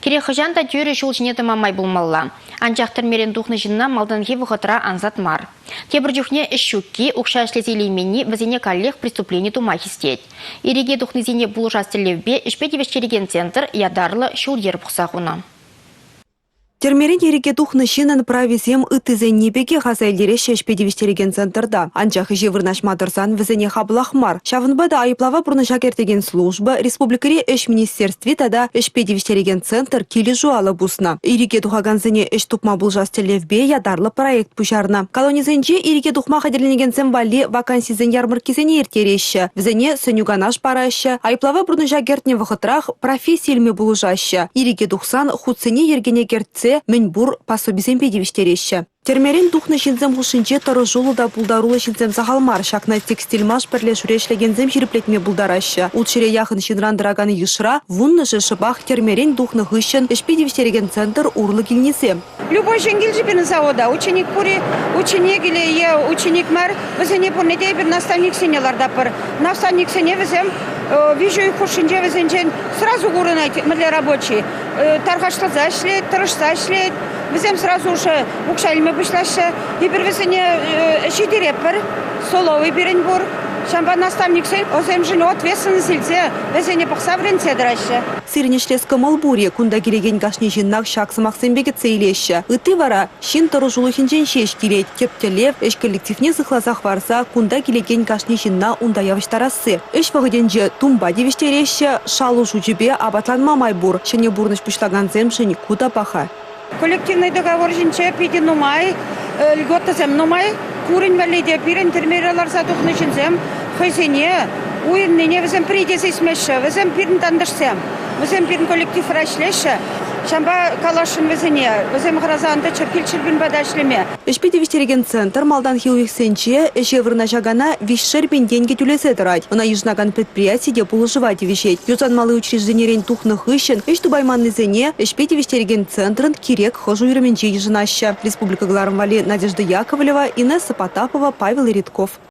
Кирек хӑҫан та тӳрӗ ҫул ҫине тӑма май пулмалла. Анчах тӗрмерен тухнӑ ҫынна малтанхи вӑхӑтра ансат мар. Тепӗр чухне ӗҫ ҫукки, укҫа ӗҫлесе илейменни вӗсене каллех преступлени тума хистет. Ирӗке тухнисене пулӑшас тӗллевпе ӗҫпе тивӗҫтерекен центр ятарлӑ ҫул-йӗр пухса хунӑ. Тӗрмерен ирӗке тухнӑ ҫыннӑн прависем ыттисенни пекех аса илтереҫҫӗ ӗҫпе тивӗҫтерекен центрта. Анчах ӗҫе вырнаҫма тӑрсан вӗсене хаплах мар. Ҫавӑнпа та айӑплава пурнӑҫа кӗртекен служба республикӑри ӗҫ министерстви тата ӗҫпе тивӗҫтерекен центр килӗшӳ алӑ пуснӑ. Ирӗке тухакансене ӗҫ тупма пулӑшас тӗллевпе ятарлӑ проект пуҫарнӑ. Колонисенче ирӗке тухма хатӗрленекенсем валли вакансисен ярмӑрккисене ирттереҫҫӗ, вӗсене сӗнӳ-канаш параҫҫӗ, айӑплава пурнӑҫа кӗртнӗ вӑхӑтрах професси илме пулӑшаҫҫӗ. Ирӗке тухсан хутсене йӗркене кӗртсе мӗн пур пособисемпе тивӗҫтереҫҫӗ. Тӗрмерен тухнӑ ҫынсем хушшинче тӑрӑшуллӑ та пултаруллӑ ҫынсем сахал мар. Ҫакна текстильмаш пӗрле шӳре ӗҫлекенсем ҫирӗплетме пултараҫҫӗ. Ут ҫӗре яхӑн ҫынран тӑракан йышра вуннӑшӗ шӑпах тӗрмерен тухнӑ хыҫҫӑн ӗҫпе тивӗҫтерекен центр урлӑ килнисем. Любой ҫӗнкӗлчӗ пирӗн завода ученик пур-и, ученикӗле е ученик мар, вӗсене пурне те эпир наставниксене лартатпӑр. Наставниксене вӗсем виҫӗ ӳт хушшинче вӗсенчен сразу курӑнать мӗнле рабочий. тархашласа ӗҫлет, тӑрӑшса ӗҫлет. Вӗсем сразу уже укҫа илме пуҫлаҫҫӗ. Эпир вӗсене ҫитеретпӗр. Соловый пирӗн пур. Ҫавӑнпа наставниксен ӑсемшӗн ответственность илсе вӗсене пӑхса вӗрентсе тӑраҫҫӗ. Сирӗн ӗҫлес кӑмӑл пур-и? Кунта килекен кашни ҫыннах ҫак сӑмахсемпе кӗтсе илеҫҫӗ. Ытти вара, Ҫын тӑрӑшулӑхӗнчен ҫеҫ килет тӗп тӗллев, ӗҫ коллективне сыхласа хӑварса кунта килекен кашни ҫынна унта явӑҫтарасси. Ӗҫ вӑхӑтӗнче тумпа тивӗҫтереҫҫӗ, шалу шучӗпе апатланма май пур, ҫӗнӗ пурнӑҫ пуҫлакансемшӗн ку та паха. Коллективный договор ҫинче питӗ нумай льготӑсем нумай. Курӑн валли те пирӗн тӗрмере ларса тухнӑ ҫынсем хӑйсене уйӑннине вӗсем пӗри те сисмеҫҫӗ. Вӗсем пирӗн тантӑшсем, вӗсем пирӗн коллективра ӗҫлеҫҫӗ. Ҫавӑнпа каласшӑн вӗсене, вӗсем хӑраса ан тӑччӑр Хильчирпин пата ӗҫлеме. Ӗҫпе тивӗҫтерекен центр малтанхи уйӑхсенче ӗҫе вырнаҫакана виҫшер пин тенкӗ тӳлесе тӑрать. Ӑна йышӑнакан предприяти те пулӑшӑва тивӗҫет. Юсанмалли учрежденирен тухнӑ хыҫҫӑн ӗҫ тупайманнисене ӗҫпе тивӗҫтерекен центрӑн кирек хӑш уйрӑмӗнче Йышӑнаҫҫӗ республика кӑларӑм валли Надежда Яковлева, Инесса Потапова, Павел Редков.